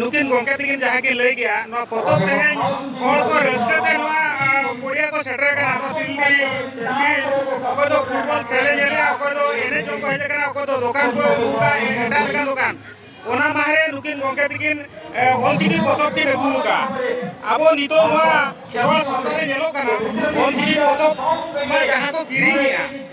ᱱᱩᱠᱤᱱ ᱜᱚᱢᱠᱮ ᱛᱟᱹᱠᱤᱱ ᱡᱟᱦᱟᱸ ᱠᱤᱱ ᱞᱟᱹᱭ ᱠᱮᱜᱼᱟ ᱱᱚᱣᱟ ᱯᱚᱛᱚᱵ ᱛᱮᱦᱮᱧ ᱦᱚᱲ ᱠᱚ ᱨᱟᱹᱥᱠᱟᱹ ᱛᱮ ᱱᱚᱣᱟ ᱯᱚᱲᱤᱭᱟ ᱠᱚ ᱥᱮᱴᱮᱨ ᱠᱟᱱᱟ ᱱᱚᱣᱟ ᱛᱤᱞᱰᱤ ᱚᱠᱚᱭ ᱫᱚ ᱯᱷᱩᱴᱵᱚᱞ ᱠᱷᱮᱞᱮ ᱧᱮᱞᱮᱜᱼᱟ ᱚᱠᱚᱭ ᱫᱚ ᱮᱱᱮᱡ ᱡᱚᱝ ᱠᱚ ᱦᱮᱡ ᱠᱟᱱᱟ ᱚᱠᱚᱭ ᱫᱚ ᱫᱚᱠᱟᱱ ᱠᱚ ᱟᱹᱜᱩᱣᱟ ᱮᱴᱟᱜ ᱞᱮᱠᱟᱱ ᱫᱚᱠᱟᱱ ᱚᱱᱟ ᱢᱟᱦᱨᱮ ᱱᱩᱠᱤᱱ ᱜᱚᱢᱠᱮ ᱛᱟᱹᱠᱤᱱ ᱚᱞᱪᱤᱠᱤ ᱯᱚᱛᱚᱵ ᱠᱤᱱ ᱟᱹᱜᱩ ᱟᱠᱟᱫᱼᱟ ᱟᱵᱚ ᱱᱤᱛᱚᱜ ᱱᱚᱣᱟ ᱠᱷᱮᱨᱣᱟᱞ ᱥᱟᱶᱛᱟ ᱨᱮ ᱧᱮᱞᱚᱜ ᱠᱟᱱᱟ ᱚᱞᱪᱤᱠᱤ ᱯᱚᱛᱚᱵ ᱡᱟᱦᱟᱸ ᱠᱚ ᱠᱤᱨᱤᱧᱮᱜᱼᱟ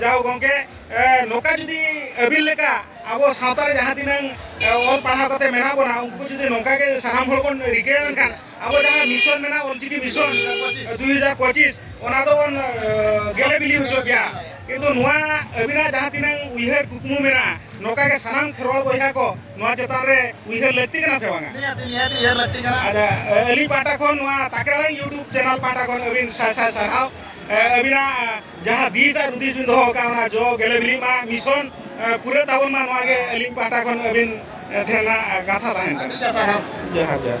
ᱡᱟᱦᱳ ᱜᱚᱝᱠᱮ ᱱᱚᱠᱟ ᱡᱩᱫᱤ ᱟᱹᱵᱤᱱ ᱞᱮᱠᱟ ᱟᱵᱚ ᱥᱟᱶᱛᱟ ᱨᱮ ᱡᱟᱦᱟᱸ ᱛᱤᱱᱟᱹᱝ ᱚᱞ ᱯᱟᱲᱦᱟᱣ ᱠᱟᱛᱮ ᱢᱮᱱᱟᱜ ᱵᱚᱱᱟ ᱩᱱᱠᱩ ᱡᱩᱫᱤ ᱱᱚᱝᱠᱟ ᱜᱮ ᱥᱟᱱᱟᱢ ᱦᱚᱲ ᱵᱚᱱ ᱨᱤᱠᱟᱹ ᱞᱮᱱᱠᱷᱟᱱ ᱟᱵᱚ ᱡᱟᱦᱟᱸ ᱢᱤᱥᱚᱱ ᱢᱮᱱᱟᱜ ᱚᱞᱪᱤᱠᱤ ᱢᱤᱥᱚᱱ ᱫᱩ ᱦᱟᱡᱟᱨ ᱯᱚᱸᱪᱤᱥ ᱚᱱᱟ ᱫᱚ ᱵᱚᱱ ᱜᱮᱞᱮ ᱵᱤᱞᱤ ᱦᱚᱪᱚ ᱜᱮᱭᱟ ᱠᱤᱱᱛᱩ ᱱᱚᱣᱟ ᱟᱹᱵᱤᱱᱟᱜ ᱡᱟᱦᱟᱸ ᱛᱤᱱᱟᱹᱝ ᱩᱭᱦᱟᱹᱨ ᱠᱩᱠᱢᱩ ᱢᱮᱱᱟᱜᱼᱟ ᱱᱚᱝᱠᱟ ᱜᱮ ᱥᱟᱱᱟᱢ ᱠᱷᱮᱨᱣᱟᱞ ᱵᱚᱭᱦᱟ ᱠᱚ ᱱᱚᱣᱟ ᱪᱮᱛᱟᱱ ᱨᱮ ᱩᱭᱦᱟᱹᱨ ᱞᱟᱹᱠᱛᱤ ᱠᱟᱱᱟ ᱥᱮ ᱵᱟᱝᱟ ᱟᱪᱪᱷᱟ ᱟᱹᱞᱤᱧ ᱯᱟᱦᱴᱟ ᱠᱷᱚᱱ ᱱᱚᱣᱟ ᱛᱟᱠᱮᱲᱟ ᱤᱭᱩᱴᱩᱵᱽ ᱪᱮᱱᱮᱞ ᱯᱟᱦᱴᱟ ᱠᱷᱚᱱ ᱟᱹᱵᱤᱱ ᱥᱟᱭ ᱥᱟᱭ ᱥᱟᱨᱦᱟᱣ ᱟᱹᱵᱤᱱᱟᱜ ᱡᱟᱦᱟᱸ ᱫᱤᱥ ᱟᱨ ᱦᱩᱫᱤᱥ ᱵᱤᱱ ᱫᱚᱦᱚ ᱟᱠᱟᱫ ᱚᱱᱟ ᱡᱚ ᱜᱮᱞᱮ ᱵᱤᱞᱤᱜ ᱢᱟ ᱢᱤᱥᱚᱱ ᱯᱩᱨᱟᱹ ᱛᱟᱵᱚᱱ ᱢᱟ ᱱᱚᱣᱟ ᱜᱮ ᱟᱹᱞᱤᱧ ᱯᱟᱦᱴᱟ ᱠᱷᱚᱱ ᱟᱹᱵᱤᱱ ᱴᱷᱮᱱ ᱠᱟᱛᱷᱟ ᱛᱟᱦᱮᱱ ᱠᱟᱱᱟ ᱡᱚᱦᱟᱨ ᱡᱚᱦᱟᱨ